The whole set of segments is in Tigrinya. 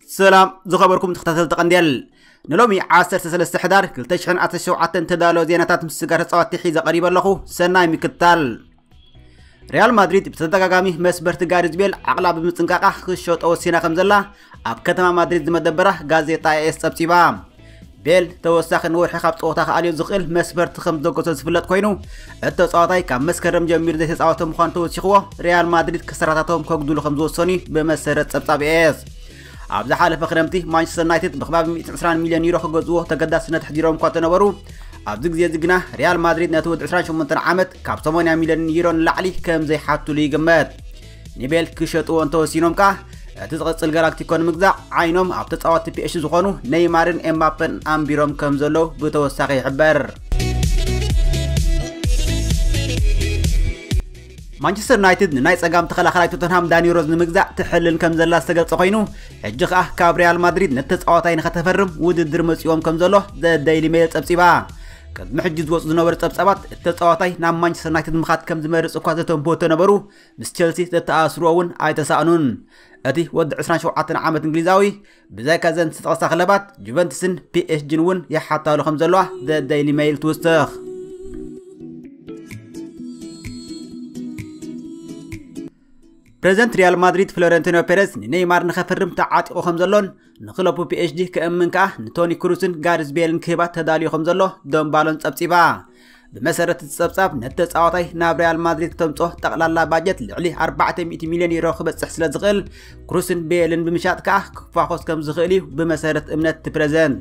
ሰላም ዝኸበርኩም ተኸታተልቲ ቀንዴል ንሎሚ 13 ሕዳር 2017 ተዳሎ ዜናታት ምስ ስጋ ተፃዋቲ ሒዘ ቀሪበ ኣለኹ ሰናይ ምክታል ሪያል ማድሪድ ብተደጋጋሚ መስበርቲ ጋሪዝ ቤል ዓቕላ ብምፅንቃቓ ክሸጦ ወሲና ከም ዘላ ኣብ ከተማ ማድሪድ ዝመደበራ ጋዜጣ ኤኤስ ፀብፂባ ቤል ተወሳኺ ንወርሒ ካብ ፀወታ ክኣልዮ ዝኽእል መስፈርቲ ከም ዘገቶ ዝፍለጥ ኮይኑ እቲ ተፃዋታይ ካብ መስከረም ጀሚሩ ዘይተፃወተ ምዃኑ ተወሲኽዎ ሪያል ማድሪድ ክሰራታቶም ከጉድሉ ከም ዝወሰኑ ብመሰረት ፀብፃብ ኤኤስ ኣብ ዝሓለፈ ክረምቲ ማንቸስተር ዩናይትድ ብክባቢ 120 ሚልዮን ዩሮ ክገዝዎ ተገዳስነት ኣሕዲሮም እኳ እንተነበሩ ኣብዚ ግዜ እዚ ግና ሪያል ማድሪድ ነቲ ወዲ 28 ዓመት ካብ 80 ሚልዮን ዩሮ ንላዕሊ ከም ዘይሓትሉ ይግመት ንቤል ክሸጥዎ እንተወሲኖም ከኣ እቲ ዝቕጽል ጋላክቲኮ ንምግዛእ ዓይኖም ኣብ ተጻወትቲ ፒኤሽ ዝኾኑ ነይማርን ኤምባፐን ኣንቢሮም ከም ዘለዉ ብተወሳኺ ይሕበር ማንቸስተር ዩናይትድ ንናይ ጸጋም ተኸላኻላይ ቶተንሃም ዳኒ ሮዝ ንምግዛእ ትሕልን ከም ዘላ ዝተገልጸ ኮይኑ ሕጂ ከኣ ካብ ሪያል ማድሪድ ነቲ ተጻዋታይ ንኸተፈርም ውድድር መጺዎም ከም ዘሎ ዘ ደይሊ ሜል ጸብጺባ ቅድሚ ሕጂ ዝወፁ ዝነበሩ ጸብጻባት እቲ ተጻዋታይ ናብ ማንቸስተር ዩናይትድ ምኻድ ከም ዝመርጽ እኳ ዘተንብሁ ተነበሩ ምስ ቸልሲ ዘተኣስርዎ እውን ኣይተሳእኑን እቲ ወዲ 27 ዓመት እንግሊዛዊ ብዛይካ እዘን ዝተጠቕሳ ክለባት ጁቨንትስን ፒኤስጂን እውን ይሓታሉ ከም ዘለዋ ዘ ደይሊ ሜይል ትውስኽ ፕሬዚደንት ሪያል ማድሪድ ፍሎረንቲኖ ፔሬዝ ንኔይማር ንኸፍርም ተዓጢቑ ከም ዘሎን ንክለቡ ፒኤችዲ ክእምን ከኣ ንቶኒ ክሩስን ጋርዝ ቤልን ክህባ ተዳልዩ ከም ዘሎ ዶምባሎን ጸብጺባ ብመሰረት እቲ ጸብጻብ ነቲ ተጻዋታይ ናብ ሪያል ማድሪድ ከምጾ ጠቕላላ ባጀት ልዕሊ 400 ሚልዮን ዩሮ ክበጽሕ ስለ ዝኽእል ክሩስን ቤልን ብምሻጥ ከኣ ክፋኾስ ከም ዝኽእል እዩ ብመሰረት እምነት እቲ ፕረዚደንት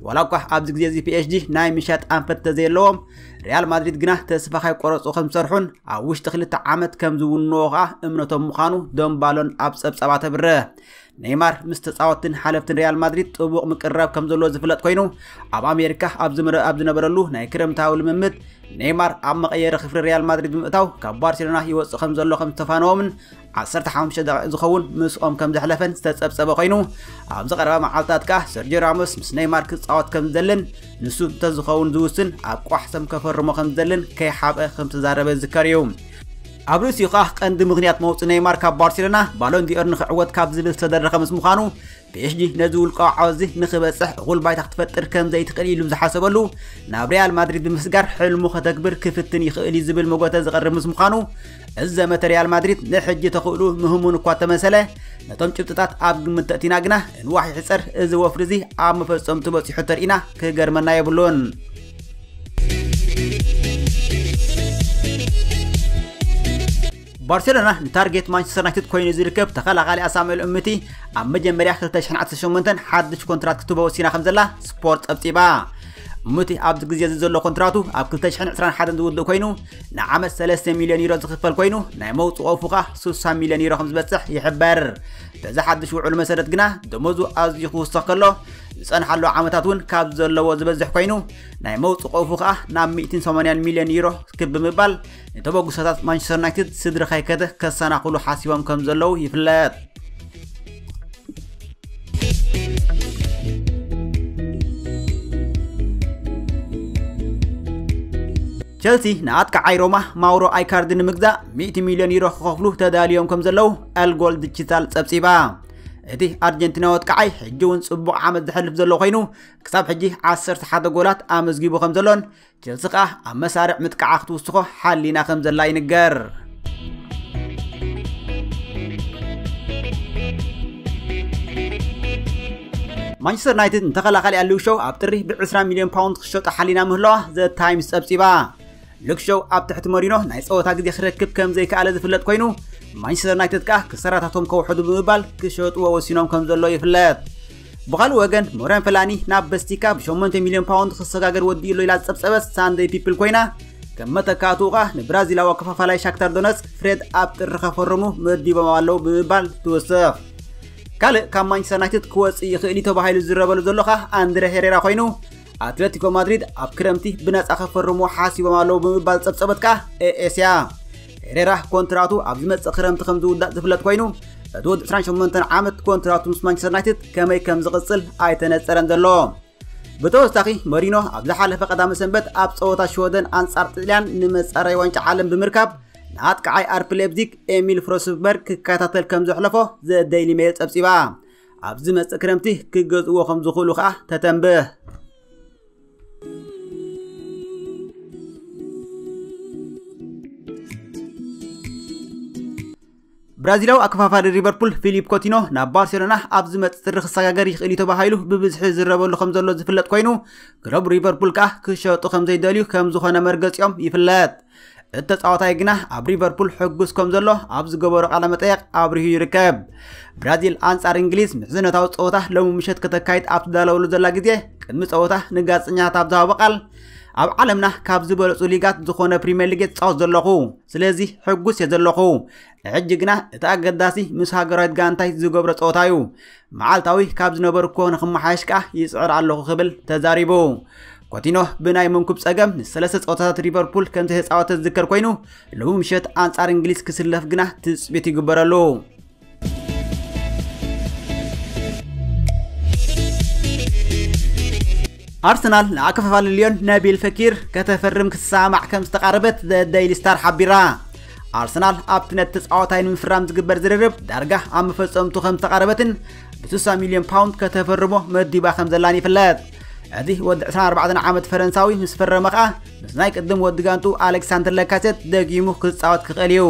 ዋላ እኳ ኣብዚ ግዜ እዚ ፒኤስጂ ናይ ምሻጥ ኣንፈት ተዘየለዎም ሪያል ማድሪድ ግና ተስፋ ካይቆረጹ ከም ዝሰርሑን ኣብ ውሽጢ ክልተ ዓመት ከም ዝውንዎ ከኣ እምነቶም ምዃኑ ደምባሎን ኣብ ጸብጻባ ተብርህ ኔይማር ምስ ተጻወትትን ሓለፍትን ሪያል ማድሪድ ጥቡቕ ምቅርራብ ከም ዘለዎ ዝፍለጥ ኮይኑ ኣብ ኣሜሪካ ኣብ ዝነበረሉ ናይ ክረምታዊ ልምምድ ኔይማር ኣብ መቐየሪ ክፍሊ ሪያል ማድሪድ ብምእታው ካብ ባርሴሎና ይወፅእ ከም ዘሎ ከም ዝተፋነዎምን 15 ደቂቕ ዝኸውን ምስኦም ከም ዘሕለፈን ዝተፀብፀበ ኮይኑ ኣብዚ ቀረባ መዓልትታት ከዓ ሰርጆ ራሞስ ምስ ኔይማር ክፃወት ከም ዝደልን ንሱ እንተዝኸውን ዝውስን ኣብ ቋሕ ሰም ከፈርሞ ከም ዝደልን ከይሓብአ ከም ዝተዛረበ ዝዝከር እዩ ኣብ ርእሲኡ ከኣ ቀንዲ ምኽንያት መውጽኢ ነይማር ካብ ባርሴሎና ባሎን ዲኦር ንኽዕወት ካብ ዝብል ዝተደረኸ ምስ ምዃኑ ፒኤስጂ ነዚ ውልቃዊ ዓወትዚ ንኽበጽሕ እኹል ባይታ ክትፈጥር ከም ዘይትኽእል ኢሉ ዝሓሰበሉ ናብ ሪያል ማድሪድ ብምስጋር ሕልሙ ከተግብር ክፍትን ይኽእል እዩ ዝብል መጎተ ዝቐርብ ምስ ምዃኑ እዚ ዘመተ ሪያል ማድሪድ ንሕጂ ተኽእሉ ምህሙን እኳ ተመሰለ ነቶም ጭብጥታት ኣብ ግምት ተእቲና ግና እንዋሕ ይሕጸር እዚ ወፍሪ እዚ ኣብ መፈጸምቱ በጺሑ ተርኢና ክገርመና የብሉን ባርሴሎና ንታርጌት ማንቸስተር ዩናይትድ ኮይኑ ዝርከብ ተኸላኻሊ ኣሳሙኤል እምቲ ኣብ መጀመርያ 2018 ሓድሽ ኮንትራት ክትህቦ ወሲና ከም ዘላ ስፖርት ጸብጺባ እምቲ ኣብዚ ግዜ እዚ ዘሎ ኮንትራቱ ኣብ 2021 ዝውድእ ኮይኑ ንዓመት 3 ሚልዮን ዩሮ ዝኽፈል ኮይኑ ናይ መውፅኦ ፉኻ 60 ሚልዮን ዩሮ ከም ዝበፅሕ ይሕበር በዚ ሓድሽ ውዕሉ መሰረት ግና ደሞዙ ኣዝዩ ክውሰኽ ከሎ ዝጸንሓሉ ዓመታት እውን ካብ ዘለዎ ዝበዝሕ ኮይኑ ናይ መውፅ ቆፉ ከኣ ናብ 180 ሚልዮን ዩሮ ክብ ብምባል ንተበግሶታት ማንቸስተር ዩናይትድ ስድሪ ከይከተ ከሰናኽሉ ሓሲቦም ከም ዘለዉ ይፍለጥ ቸልሲ ንኣጥቃዓይ ሮማ ማውሮ ኣይካርዲ ንምግዛእ 100 ሚልዮን ዩሮ ክኸፍሉ ተዳልዮም ከም ዘለዉ ኣልጎል ድጅታል ጸብጺባ እቲ ኣርጀንቲናዊ ኣጥቃዓይ ሕጂ እውን ጽቡቕ ዓመት ዘሕልፍ ዘሎ ኮይኑ ክሳብ ሕጂ 11 ጎላት ኣመዝጊቡ ከም ዘሎን ቸልሲ ከኣ ኣብ መሳርዕ ምጥቃዓ ክትውስኾ ሓሊና ከም ዘላ ይንገር ማንቸስተር ዩናይትድ ንተኸላኻሊ ኣሊው ሸው ኣብ ጥሪ ብ20 ሚልዮን ፓውንድ ክሸጦ ሓሊና ምህለዋ ዘ ታይምስ ጸብጺባ ሉክ ሾው ኣብ ትሕቲ መሪኖ ናይ ጸወታ ግዜ ክረክብ ከም ዘይከኣለ ዝፍለጥ ኮይኑ ማንቸስተር ዩናይትድ ከኣ ክሰራታቶም ከውሕዱ ብምባል ክሸጥዎ ወሲኖም ከም ዘሎ ይፍለጥ። ብኻልእ ወገን ሞረን ፈላኒ ናብ በስቲካ ብ8 ሚልዮን ፓውንድ ክሰጋገር ወዲኡ ኣሎ ኢላ ዝጸብጸበት ሳንደይ ፒፕል ኮይና ከም መተካእትኡ ከኣ ንብራዚላዊ ኣከፋፋላይ ሻክታር ዶነስክ ፍሬድ ኣብ ጥሪ ከፈርሙ መዲቦም ኣለዉ ብምባል ትውስኽ። ካልእ ካብ ማንቸስተር ዩናይትድ ክወጽእ ይኽእል እዩ ተባሂሉ ዝዝረበሉ ዘሎ ከኣ ኣንድረ ሄሬራ ኮይኑ ኣትለቲኮ ማድሪድ ኣብ ክረምቲ ብነፃ ከፈርሙ ሓሲቦም ኣለዉ ብምባል ዝፀብፀበት ከኣ ኤኤስ እያ ሄሬራ ኮንትራቱ ኣብ ዝመፅእ ክረምቲ ከም ዝውዳእ ዝፍለጥ ኮይኑ እቲ ወዲ 28 ዓመት ኮንትራቱ ምስ ማንቸስተር ዩናይትድ ከመይ ከም ዝቕፅል ኣይተነፀረን ዘሎ ብተወሳኺ መሪኖ ኣብ ዝሓለፈ ቀዳመ ሰንበት ኣብ ፀወታ ሽወደን ኣንጻር ጥልያን ንመፃረይ ዋንጫ ዓለም ብምርካብ ንኣጥቃዓይ ኣርፒ ሌፕዚግ ኤሚል ፍሮስበርግ ክከታተል ከም ዘሕለፎ ዘደይሊ ሜል ፀብፂባ ኣብ ዝመጽእ ክረምቲ ክገዝእዎ ከም ዝኽእሉ ከኣ ተተንብህ። ብራዚላዊ ኣከፋፋሪ ሊቨርፑል ፊሊፕ ኮቲኖ ናብ ባርሴሎና ኣብ ዝመጽእ ጥሪ ክሰጋገር ይኽእል እዩ ተባሂሉ ብብዝሒ ዝረበሉ ከም ዘሎ ዝፍለጥ ኮይኑ ክለብ ሊቨርፑል ከኣ ክሸጡ ከም ዘይደልዩ ከም ዝኾነ መርገጺኦም ይፍለጥ። እቲ ተጻዋታይ ግና ኣብ ሊቨርፑል ሕጉስ ከም ዘሎ ኣብ ዝገበሮ ቃለ መጠየቕ ኣብሪሁ ይርከብ። ብራዚል ኣንጻር እንግሊዝ ምሕዝነታዊ ጸወታ ሎሚ ምሸት ከተካይድ ኣብ ትዳለወሉ ዘላ ግዜ ቅድሚ ጸወታ ንጋዜጠኛታት ኣብ ዝሃቦ ቃል ኣብ ዓለምና ካብ ዝበለጹ ሊጋት ዝኾነ ፕሪምየር ሊግ እየ ዝጻወት ዘለኹ ስለዚ ሕጉስ እየ ዘለኹ ሕጂ ግና እቲ ኣገዳሲ ምስ ሃገራዊት ጋንታይ ዝገብሮ ጸወታ እዩ። መዓልታዊ ካብ ዝነበርኩዎ ንክመሓየሽ ከኣ ይጽዕር ኣለኹ ክብል ተዛሪቡ። ኮቲኖ ብናይ መንኩብ ጸገም ንሰለስተ ጸወታታት ሊቨርፑል ከም ዘይተጻወተ ዝዝከር ኮይኑ ሎሚ ምሸት ኣንጻር እንግሊዝ ክስለፍ ግና ትጽቢት ይግበረሉ። ኣርሰናል ንኣከፋፋሊ ልዮን ነቢል ፈኪር ከተፈርም ክትሰማማዕ ከም ዝተቓረበት ዘ ደይሊ ስታር ሓቢራ። ኣርሰናል ኣብቲ ነቲ ተጻዋታይ ንምፍራም ዝግበር ዝርርብ ዳርጋ ኣብ መፈጸምቱ ከም ዝተቓረበትን ብ60 ሚልዮን ፓውንድ ከተፈርሞ መዲባ ከም ዘላን ይፍለጥ እዚ ወዲ 24 ዓመት ፈረንሳዊ ምስ ፈረመ ከኣ ምስ ናይ ቅድም ወዲ ጋንቱ ኣሌክሳንደር ለካሴት ደጊሙ ክጻወት ክኽእል እዩ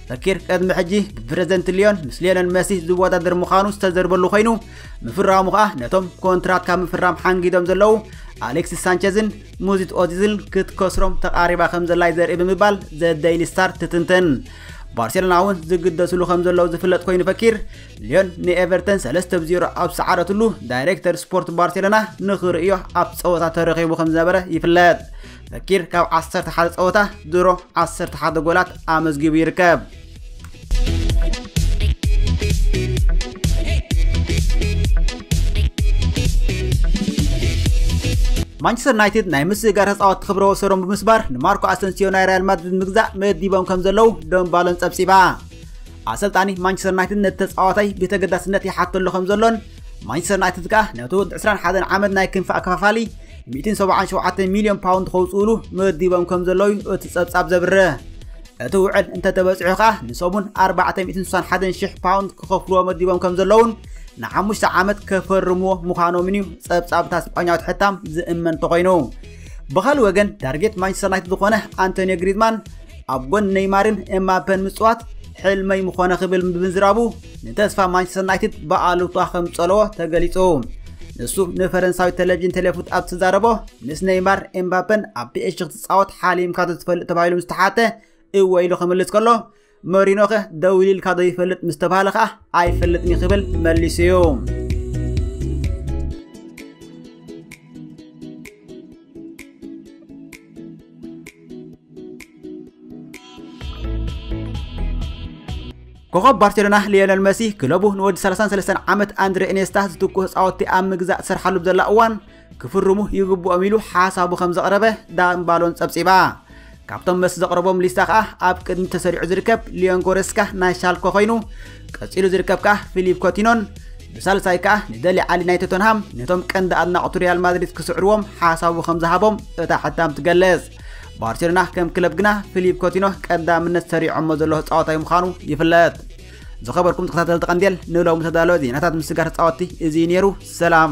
ፈኪር ቅድሚ ሕጂ ብፕረዚደንት ሊዮን ምስ ሊዮነል መሲ ዝወዳደር ምዃኑ ዝተዘርበሉ ኮይኑ ምፍራሙ ከኣ ነቶም ኮንትራት ካብ ምፍራም ሓንጊዶም ዘለዉ ኣሌክሲስ ሳንቸዝን ሙዚት ኦዚዝል ክትከስሮም ተቓሪባ ከም ዘላዩ ዘርኢ ብምባል ዘደይሊ ስታር ትትንትን ባርሴሎና እውን ዝግደስሉ ከም ዘለዉ ዝፍለጥ ኮይኑ ፈኪር ሊዮን ንኤቨርተን 3 ብ 0 ኣብ ሰዓረትሉ ዳይሬክተር ስፖርት ባርሴሎና ንኽርእዮ ኣብ ፀወታ ተረኺቡ ከም ዝነበረ ይፍለጥ ፈኪር ካብ 11 ፀወታ ድሮ 11 ጎላት ኣመዝጊቡ ይርከብ ማንቸስተር ዩናይትድ ናይ ምስግጋር ተፃወት ክብረ ወሰዶም ብምስባር ንማርኮ ኣሰንሲዮ ናይ ሪያል ማድሪድ ምግዛእ መዲቦም ከም ዘለዉ ደም ባሎን ፀብፂባ ኣሰልጣኒ ማንቸስተር ዩናይትድ ነቲ ተፃዋታይ ብተገዳስነት ይሓተሉ ከም ዘሎን ማንቸስተር ዩናይትድ ከዓ ነቲ ወዲ 21 ዓመት ናይ ክንፊ ኣከፋፋሊ 177 ሚልዮን ፓውንድ ከውፅኡሉ መዲቦም ከም ዘለዉ እቲ ፀብፃብ ዘብርህ እቲ ውዕል እንተተበጺሑ ከኣ ንሰሙን ኣርባዕተ ሚእትን ስሳን ሓደን ሽሕ ፓውንድ ክኸፍልዎ መዲቦም ከም ዘለዉን ንሓሙሽተ ዓመት ከፈርምዎ ምዃኖምን እዩ ጸብጻብታ ስጳኛዊት ሕታም ዝእመን እንተኾይኑ ብኻልእ ወገን ታርጌት ማንቸስተር ዩናይትድ ዝኾነ ኣንቶኒዮ ግሪዝማን ኣብ ጎን ነይማርን ኤምባፔን ምጽዋት ሕልመይ ምኾነ ክብል ብምዝራቡ ንተስፋ ማንቸስተር ዩናይትድ ብኣሉታ ከም ዝጸለዎ ተገሊጹ ንሱ ንፈረንሳዊ ቴሌቪዥን ቴሌፉት ኣብ ዝተዛረቦ ምስ ነይማር ኤምባፔን ኣብ ፒኤስጂ ጻወት ሓሊምካ ዶ ትፈልጥ ተባሂሉ ምስ ተሓተ እወ ኢሉ ክምልስ ከሎ መሪኖኸ ደው ኢልካ ዶ ይፈልጥ ምስ ተባሃለ ከኣ ኣይፈልጥን ክብል መሊሱ እዩ ኮኸብ ባርሴሎና ሊዮነል መሲ ክለቡ ንወዲ 33 ዓመት ኣንድሬ ኢኔስታ ዝትኩህ ፃወቲ ኣብ ምግዛእ ዝሰርሓሉ ብዘላ እዋን ክፍርሙ ይግብኦም ኢሉ ሓሳቡ ከም ዘቕረበ ዳግም ባሎን ጸብጺባ። ካብቶም መስ ዘቕረቦም ሊስታ ከኣ ኣብ ቅድሚ ተሰሪዑ ዝርከብ ሊዮን ጎረስካ ናይ ሻልኮ ኮይኑ ቀጺሉ ዝርከብ ከኣ ፊሊፕ ኮቲኖን ብሳልሳይ ከኣ ንደሊ ዓሊ ናይ ቶተንሃም ነቶም ቀንዲ ኣድናቕቱ ሪያል ማድሪድ ክስዕርዎም ሓሳቡ ከም ዝሃቦም እታ ሕታም ትገልጽ ባርሴሎና ከም ክለብ ግና ፊሊፕ ኮቲኖ ቀዳምነት ሰሪዖሞ ዘሎ ተጻዋታይ ምዃኑ ይፍለጥ ዝኸበርኩም ተኸታተልቲ ቀንዴል ንሎሚ ተዳለወ ዜናታት ምስጋር ተጻወትቲ እዚ ነይሩ ሰላም